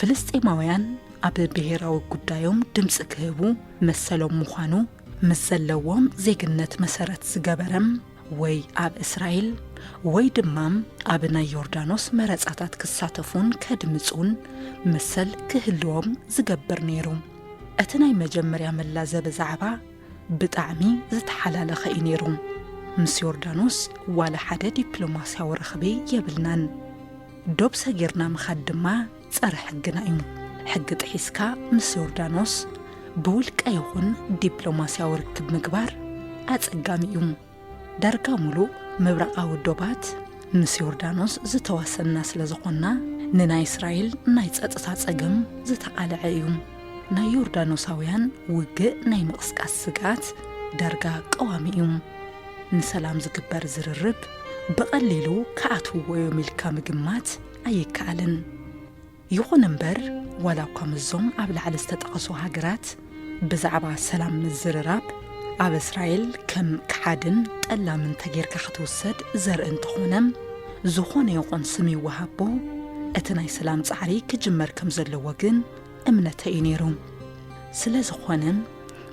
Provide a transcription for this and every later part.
ፍልስጤማውያን ኣብ ብሄራዊ ጉዳዮም ድምፂ ክህቡ መሰሎም ምዃኑ ምስ ዘለዎም ዜግነት መሰረት ዝገበረ ወይ ኣብ እስራኤል ወይ ድማ ኣብ ናይ ዮርዳኖስ መረፃታት ክሳተፉን ከድምፁን መሰል ክህልዎም ዝገብር ነይሩ። እቲ ናይ መጀመርያ መላዘ ብዛዕባ ብጣዕሚ ዝተሓላለኸ እዩ ነይሩ። ምስ ዮርዳኖስ ዋላ ሓደ ዲፕሎማስያዊ ርኽቢ የብልናን። ዶብ ሰጊርና ምኻድ ድማ ጸረ ሕግና እዩ። ሕጊ ጥሒስካ ምስ ዮርዳኖስ ብውልቀ ይኹን ዲፕሎማስያዊ ርክብ ምግባር ኣጸጋሚ እዩ። ዳርጋ ሙሉእ ምብራቓዊ ዶባት ምስ ዮርዳኖስ ዝተዋሰንና ስለ ዝኾንና ንናይ እስራኤል ናይ ጸጥታ ጸገም ዝተቓልዐ እዩ። ናይ ዮርዳኖሳውያን ውግእ ናይ ምቕስቃስ ስግኣት ዳርጋ ቀዋሚ እዩ። ንሰላም ዝግበር ዝርርብ ብቐሊሉ ክኣትውዎ እዮም ኢልካ ምግማት ኣይከኣልን። ይኹን እምበር ዋላ እኳ ምስዞም ኣብ ላዕሊ ዝተጠቐሱ ሃገራት ብዛዕባ ሰላም ምዝርራብ ኣብ እስራኤል ከም ከሓድን ጠላምን ተጌርካ ክትውሰድ ዘርኢ እንተኾነ ዝኾነ ይኹን ስም ይወሃቦ እቲ ናይ ሰላም ጻዕሪ ክጅመር ከም ዘለዎ ግን እምነተ እዩ ነይሩ። ስለ ዝኾነ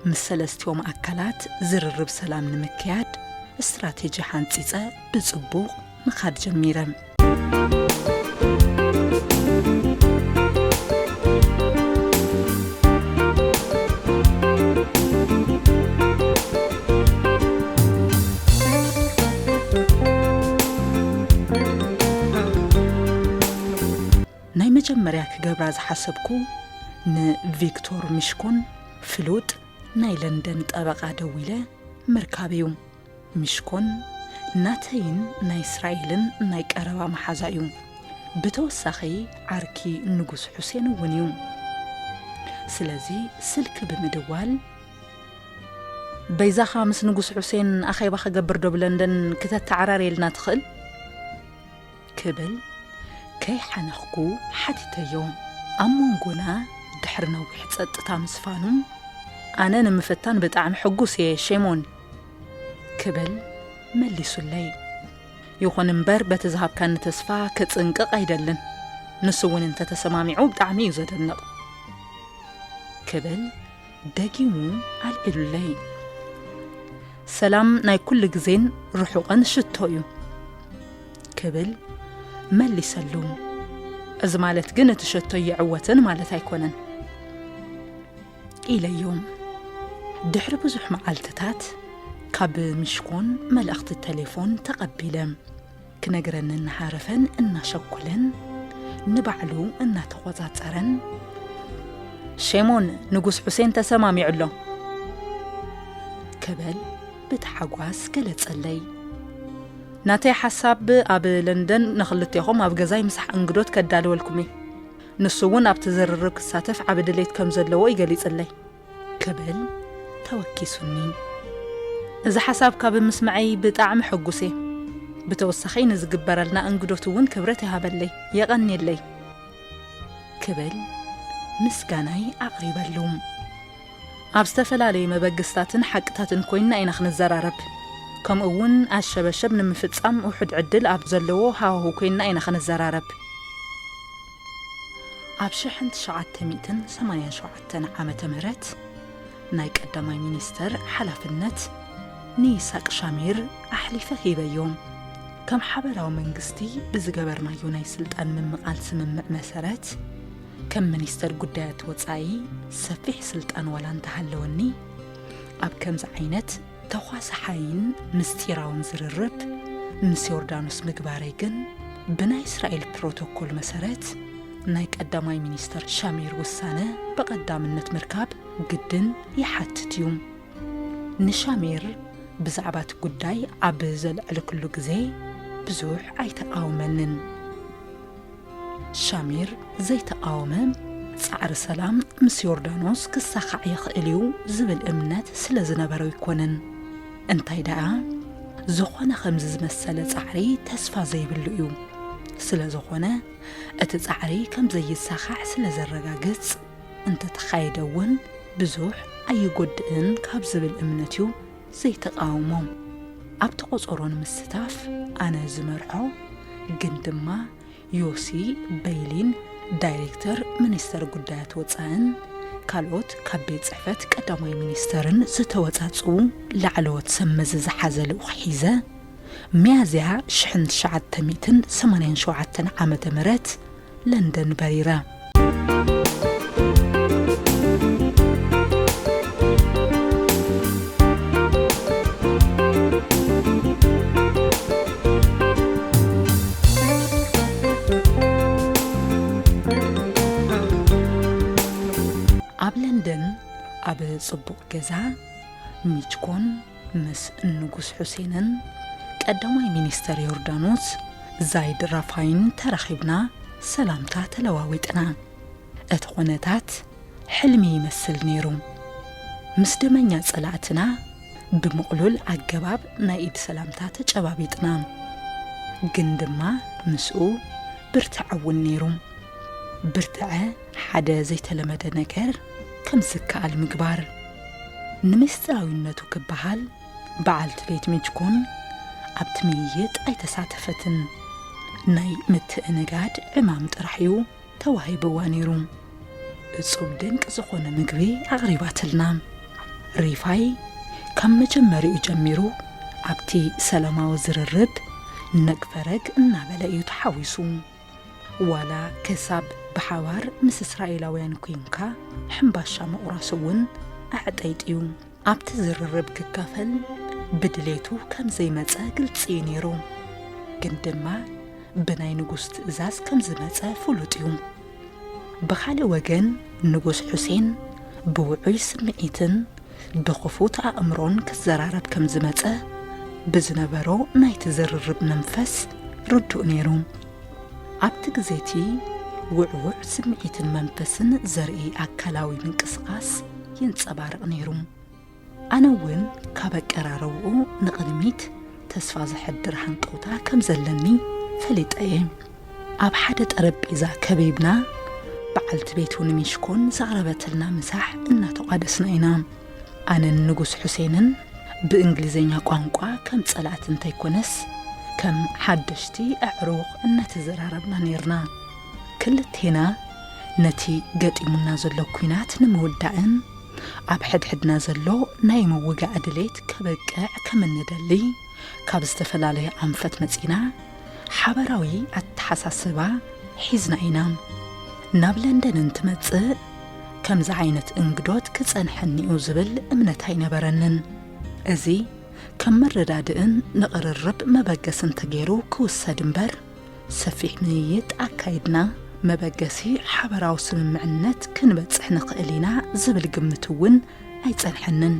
ምስ ሰለስቲኦም ኣካላት ዝርርብ ሰላም ንምክያድ ስትራቴጂ ሓንጺጸ ብጽቡቕ ምኻድ ጀሚረን። ናይ መጀመርያ ክገብራ ዝሓሰብኩ ንቪክቶር ሚሽኮን ፍሉጥ ናይ ለንደን ጠበቓ ደዊለ ምርካብ እዩ ሚሽኮን ናተይን ናይ እስራኤልን ናይ ቀረባ መሓዛ እዩ። ብተወሳኺ ዓርኪ ንጉስ ሑሴን እውን እዩ። ስለዚ ስልኪ ብምድዋል በይዛኻ ምስ ንጉስ ሑሴን ኣኼባ ክገብር ዶብ ለንደን ክተተዓራርየልና ትኽእል? ክብል ከይሓነኽኩ ሓቲተዮ። ኣብ ሞንጎና ድሕሪ ነዊሕ ጸጥታ ምስፋኑ፣ ኣነ ንምፍታን ብጣዕሚ ሕጉስ እየ ሼሞን። ክብል መሊሱለይ። ይኹን እምበር በቲ ዝሃብካኒ ተስፋ ክጽንቅቕ ኣይደልን። ንሱ እውን እንተተሰማሚዑ ብጣዕሚ እዩ ዘደንቕ። ክብል ደጊሙ ኣልዒሉለይ። ሰላም ናይ ኩሉ ግዜን ርሑቕን ሽቶ እዩ። ክብል መሊሰሉ። እዚ ማለት ግን እቲ ሸቶ ይዕወትን ማለት ኣይኮነን ኢለዮም። ድሕሪ ብዙሕ መዓልትታት ካብ ምሽኮን መልእኽቲ ቴሌፎን ተቐቢለ ክነግረኒ እናሃረፈን እናሸኮለን ንባዕሉ እናተቖጻጸረን ሼሞን ንጉስ ሑሴን ተሰማሚዑ ኣሎ ክብል ብታሓጓስ ገለጸለይ። ናተይ ሓሳብ ኣብ ለንደን ንኽልቴኹም ኣብ ገዛይ ምሳሕ እንግዶት ከዳልወልኩም እየ። ንሱ እውን ኣብቲ ዝርርብ ክሳተፍ ዓቢ ድሌት ከም ዘለዎ እዩ ገሊጽለይ። ክብል ተወኪሱኒ። እዚ ሓሳብ ካብ ምስመዐይ ብጣዕሚ ሕጉስ እየ። ብተወሳኺ ንዝግበረልና እንግዶት እውን ክብረት ይሃበለይ። የቐንየለይ። ክብል ምስጋናይ ኣቕሪበሉ። ኣብ ዝተፈላለዩ መበግስታትን ሓቅታትን ኮይንና ኢና ክንዘራረብ ከምኡ እውን ኣሸበሸብ ንምፍፃም ውሑድ ዕድል ኣብ ዘለዎ ሃዋህው ኮይንና ኢና ክንዘራረብ። ኣብ ሽሕን ትሽዓተ ሚእትን ሰማንያን ሸውዓተን ዓመተ ምህረት ናይ ቀዳማይ ሚኒስተር ሓላፍነት ንይሳቅ ሻሚር ኣሕሊፈ ሂበዮም። ከም ሓበራዊ መንግስቲ ብዝገበርናዮ ናይ ስልጣን ምምቓል ስምምዕ መሰረት፣ ከም ሚኒስተር ጉዳያት ወጻኢ ሰፊሕ ስልጣን ዋላ እንተሃለወኒ ኣብ ከምዚ ዓይነት ተዃሳሓይን ምስጢራውን ዝርርብ ምስ ዮርዳኖስ ምግባረይ ግን ብናይ እስራኤል ፕሮቶኮል መሰረት ናይ ቀዳማይ ሚኒስተር ሻሚር ውሳነ ብቐዳምነት ምርካብ ግድን ይሓትት እዩ ንሻሚር ብዛዕባ እቲ ጉዳይ ኣብ ዘልዕልክሉ ግዜ ብዙሕ ኣይተቃወመንን ሻሚር ዘይተቓወመ፣ ጻዕሪ ሰላም ምስ ዮርዳኖስ ክሳኻዕ ይኽእል እዩ ዝብል እምነት ስለ ዝነበሮ ኣይኮነን። እንታይ ደኣ፣ ዝኾነ ከምዚ ዝመሰለ ጻዕሪ ተስፋ ዘይብሉ እዩ። ስለ ዝኾነ፣ እቲ ጻዕሪ ከም ዘይሳኻዕ ስለ ዘረጋግጽ፣ እንተ ተኻየደ እውን ብዙሕ ኣይጎድእን ካብ ዝብል እምነት እዩ ዘይተቓወሞም ኣብቲ ቆጸሮ ንምስታፍ ኣነ ዝመርሖ ግን ድማ ዮሲ በይሊን ዳይሬክተር ሚኒስተር ጉዳያት ወጻእን ካልኦት ካብ ቤት ጽሕፈት ቀዳማይ ሚኒስተርን ዝተወጻጽኡ ላዕለዎት ሰብ መዚ ዝሓዘ ልኡኽ ሒዘ ሚያዝያ ሽሕን ትሽዓተ ሚእትን ሰማንያን ሸውዓተን ዓመተ ምህረት ለንደን በሪረ። ኣብ ለንደን ኣብ ጽቡቕ ገዛ ሚችኮን ምስ ንጉስ ሑሴንን ቀዳማይ ሚኒስተር ዮርዳኖስ ዛይድ ራፋይን ተራኺብና ሰላምታ ተለዋዊጥና። እቲ ኩነታት ሕልሚ ይመስል ነይሩ። ምስ ደመኛ ጸላእትና ብምቕሉል ኣገባብ ናይ ኢድ ሰላምታ ተጨባቢጥና። ግን ድማ ምስኡ ብርትዐ እውን ነይሩ። ብርትዐ ሓደ ዘይተለመደ ነገር ከም ዝከኣል ምግባር። ንምስጢራዊነቱ ክበሃል በዓልቲ ቤት ሚጅኮን ኣብቲ ምይይጥ ኣይተሳተፈትን። ናይ ምትእንጋድ ዕማም ጥራሕ እዩ ተዋሂብዋ ነይሩ። እጹብ ድንቅ ዝኾነ ምግቢ ኣቕሪባትልና። ሪፋይ ካብ መጀመሪኡ ጀሚሩ ኣብቲ ሰላማዊ ዝርርብ ነግ ፈረግ እናበለ እዩ ተሓዊሱ። ዋላ ከሳብ ብሓባር ምስ እስራኤላውያን ኩንካ ሕምባሻ ምቑራስ እውን ኣዕጠይጢዩ ኣብቲ ዝርርብ ክካፈል ብድሌቱ ከም ዘይመጸ ግልጺ እዩ ነይሩ። ግን ድማ ብናይ ንጉስ ትእዛዝ ከም ዝመጸ ፍሉጥ እዩ። ብኻልእ ወገን ንጉስ ሑሴን ብውዑይ ስምዒትን ብኽፉት ኣእምሮን ክዘራረብ ከም ዝመጸ ብዝነበሮ ናይቲ ዝርርብ መንፈስ ርዱእ ነይሩ። ኣብቲ ግዜ እቲ ውዕዉዕ ስምዒትን መንፈስን ዘርኢ ኣካላዊ ምንቅስቓስ ይንጸባረቕ ነይሩ። ኣነ እውን ካብ ኣቀራርባኡ ንቕድሚት ተስፋ ዘሕድር ሃንቀውታ ከም ዘለኒ ፈሊጠ እየ። ኣብ ሓደ ጠረጴዛ ከቢብና በዓልቲ ቤቱ ንሚሽኮን ዘቕረበትልና ምሳሕ እናተቋደስና ኢና። ኣነን ንጉስ ሑሴንን ብእንግሊዘኛ ቋንቋ ከም ጸላእቲ እንተይኮነስ ከም ሓደሽቲ ኣዕሩኽ እናተዘራረብና ኔርና። ክልቴና ነቲ ገጢሙና ዘሎ ኲናት ንምውዳእን ኣብ ሕድሕድና ዘሎ ናይ ምውጋእ ድሌት ከበቅዕ ከም እንደሊ ካብ ዝተፈላለየ ኣንፈት መጺና ሓበራዊ ኣተሓሳስባ ሒዝና ኢና ናብ ለንደን እንትመጽእ ከምዚ ዓይነት እንግዶት ክጸንሐኒ'ዩ ዝብል እምነት ኣይነበረንን። እዚ ከም መረዳድእን ንቕርርብ መበገስን ተገይሩ ክውሰድ እምበር፣ ሰፊሕ ምይይጥ ኣካይድና መበገሲ ሓበራዊ ስምምዕነት ክንበጽሕ ንኽእል ኢና ዝብል ግምት'ውን ኣይጸንሐንን።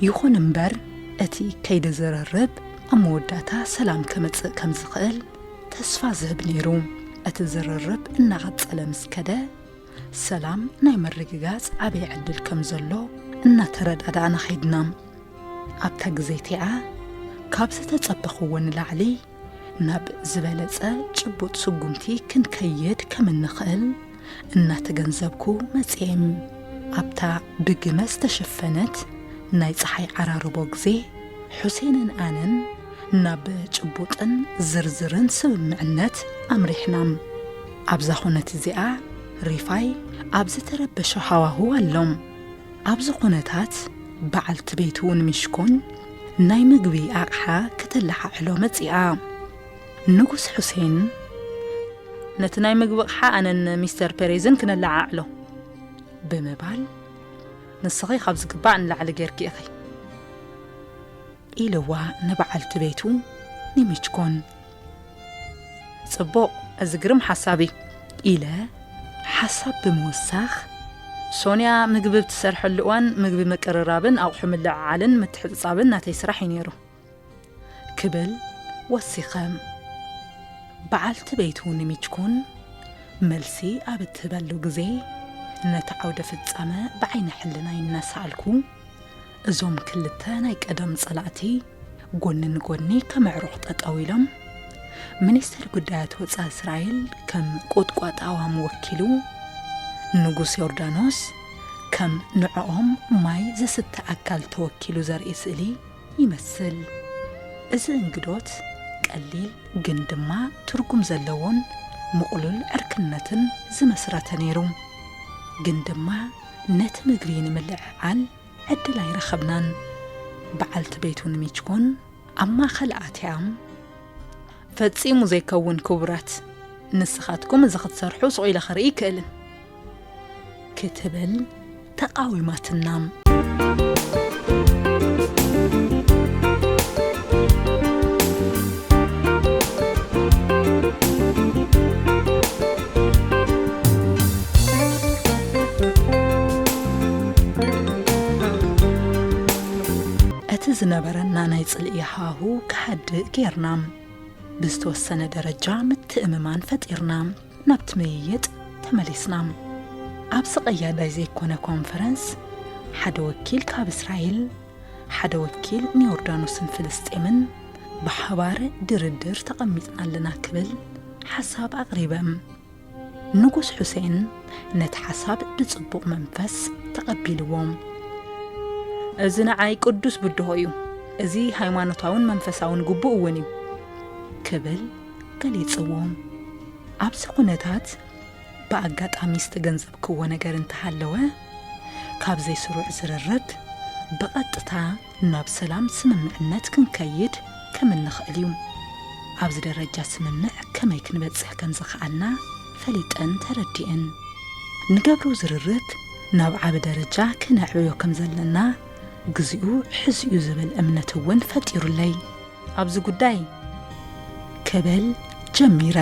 ይኹን እምበር እቲ ከይዲ ዝርርብ ኣብ መወዳእታ ሰላም ከምጽእ ከም ዝኽእል ተስፋ ዝህብ ነይሩ እቲ ዝርርብ እናቐጸለ ምስ ከደ ሰላም ናይ ምርግጋጽ ዓብይ ዕድል ከም ዘሎ እናተረዳዳእና ኸይድና ኣብታ ግዜ እቲኣ ካብ ዝተጸበኽዎ ንላዕሊ ናብ ዝበለጸ ጭቡጥ ስጉምቲ ክንከይድ ከም እንኽእል እናተገንዘብኩ መጺኤም ኣብታ ብግመ ዝተሸፈነት ናይ ጸሓይ ዓራርቦ ግዜ ሑሴንን ኣነን ናብ ጭቡጥን ዝርዝርን ስምምዕነት ኣምሪሕና። ኣብዛ ኹነት እዚኣ ሪፋይ ኣብ ዝተረበሸ ሃዋህው ኣሎም ኣብዚ ኩነታት በዓልቲ ቤቱ እውን ሚሽኮን ናይ ምግቢ ኣቕሓ ከተለሓዕሎ መጺኣ ንጉስ ሑሴን ነቲ ናይ ምግቢ ኣቕሓ ኣነን ሚስተር ፔሬዝን ክነለዓዕሎ ብምባል ንስኺ ካብ ዝግባእ ንላዕሊ ጌርኪ ኢኺ ኢልዋ ንበዓልቲ ቤቱ ንሚችኮን። ጽቡቕ፣ እዚ ግርም ሓሳብ እዩ። ኢለ ሓሳብ ብምውሳኽ፣ ሶንያ ምግቢ ብ ትሰርሐሉ እዋን ምግቢ ምቅርራብን ኣቑሑ ምልዕዓልን ምትሕጽጻብን ናተይ ስራሕ እዩ ነይሩ። ክብል ወሲኸ። በዓልቲ ቤቱ ንሚችኮን መልሲ ኣብ እትህበሉ ግዜ ነቲ ዓውደ ፍጻመ ብዓይነ ሕልናይ እናሰኣልኩ፣ እዞም ክልተ ናይ ቀደም ጸላእቲ ጎኒ ንጎኒ ከም ኣዕሩኽ ጠጠው ኢሎም፣ ሚኒስተር ጉዳያት ወጻኢ እስራኤል ከም ቁጥቋጥ ኣእዋም ወኪሉ፣ ንጉስ ዮርዳኖስ ከም ንዕኦም ማይ ዘስተ ኣካል ተወኪሉ ዘርኢ ስእሊ ይመስል። እዚ እንግዶት ቀሊል ግን ድማ ትርጉም ዘለዎን ምቕሉል ዕርክነትን ዝመስረተ ነይሩ። ግን ድማ ነቲ ምግቢ ንምልዕዓል ዕድል ኣይረኸብናን። በዓልቲ ቤቱ ንሚችኮን ኣብ ማእኸል ኣትያም፣ ፈፂሙ ዘይከውን ክቡራት፣ ንስኻትኩም እዚ ክትሰርሑ ሱቕ ኢለ ክርኢ ይክእልን ክትብል ተቓዊማትናም። እቲ ዝነበረና ናይ ጽልኢ ሃሁ ክሃድእ ጌርና ብዝተወሰነ ደረጃ ምትእምማን ፈጢርና ናብቲ ምይይጥ ተመሊስና ኣብዚ ቀያዳይ ዘይኮነ ኮንፈረንስ ሓደ ወኪል ካብ እስራኤል ሓደ ወኪል ንዮርዳኖስን ፍልስጤምን ብሓባር ድርድር ተቐሚጥና ኣለና ክብል ሓሳብ ኣቕሪበ። ንጉስ ሑሴን ነቲ ሓሳብ ብጽቡቕ መንፈስ ተቐቢልዎም። እዚ ንዓይ ቅዱስ ብድሆ እዩ፣ እዚ ሃይማኖታውን መንፈሳውን ግቡእ እውን እዩ ክብል ገሊጽዎም። ኣብዚ ኩነታት ብኣጋጣሚ ዝተገንዘብክዎ ነገር እንተሃለወ፣ ካብ ዘይስሩዕ ዝርርብ ብቐጥታ ናብ ሰላም ስምምዕነት ክንከይድ ከም እንኽእል እዩ። ኣብዚ ደረጃ ስምምዕ ከመይ ክንበጽሕ ከም ዝኸኣልና ፈሊጠን ተረዲእን። ንገብሮ ዝርርብ ናብ ዓቢ ደረጃ ክነዕብዮ ከም ዘለና ግዚኡ ሕዚ'ዩ ዝብል እምነት እውን ፈጢሩለይ። ኣብዚ ጉዳይ ክብል ጀሚረ።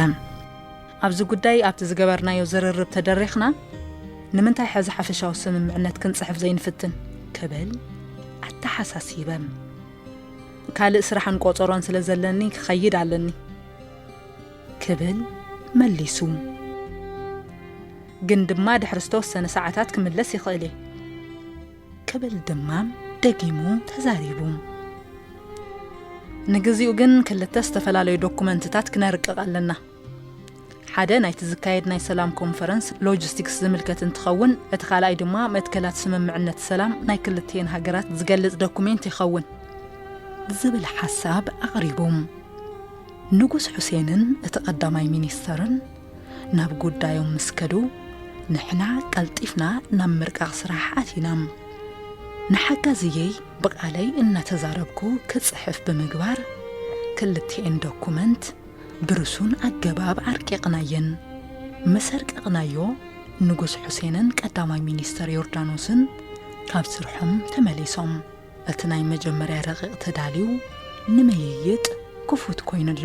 ኣብዚ ጉዳይ ኣብቲ ዝገበርናዮ ዝርርብ ተደሪኽና፣ ንምንታይ ሕዚ ሓፈሻዊ ስምምዕነት ክንጽሕፍ ዘይንፍትን? ክብል ኣተሓሳሲበም። ካልእ ስራሕን ቆጸሮን ስለ ዘለኒ ክኸይድ ኣለኒ። ክብል መሊሱ። ግን ድማ ድሕሪ ዝተወሰነ ሰዓታት ክምለስ ይኽእል እየ። ክብል ድማ ደጊሙ ተዛሪቡ። ንግዚኡ ግን ክልተ ዝተፈላለዩ ዶኩመንትታት ክነርቅቕ ኣለና። ሓደ ናይቲ ዝካየድ ናይ ሰላም ኮንፈረንስ ሎጂስቲክስ ዝምልከት እንትኸውን እቲ ካልኣይ ድማ መትከላት ስምምዕነት ሰላም ናይ ክልቲኤን ሃገራት ዝገልፅ ዶኩሜንት ይኸውን ዝብል ሓሳብ ኣቕሪቦም። ንጉስ ሑሴንን እቲ ቀዳማይ ሚኒስተርን ናብ ጉዳዮም ምስ ከዱ ንሕና ቀልጢፍና ናብ ምርቃቕ ስራሕ ኣቲና። ንሓጋዝየይ ብቓለይ እናተዛረብኩ ክፅሕፍ ብምግባር ክልቲኤን ዶኩመንት ብርሱን ኣገባብ ኣርቂቕናየን። ምስ ኣርቀቕናዮ፣ ንጉስ ሑሴንን ቀዳማይ ሚኒስተር ዮርዳኖስን ካብ ስርሖም ተመሊሶም። እቲ ናይ መጀመርያ ረቂቕ ተዳልዩ ንምይይጥ ክፉት ኮይኑ ኣሎ።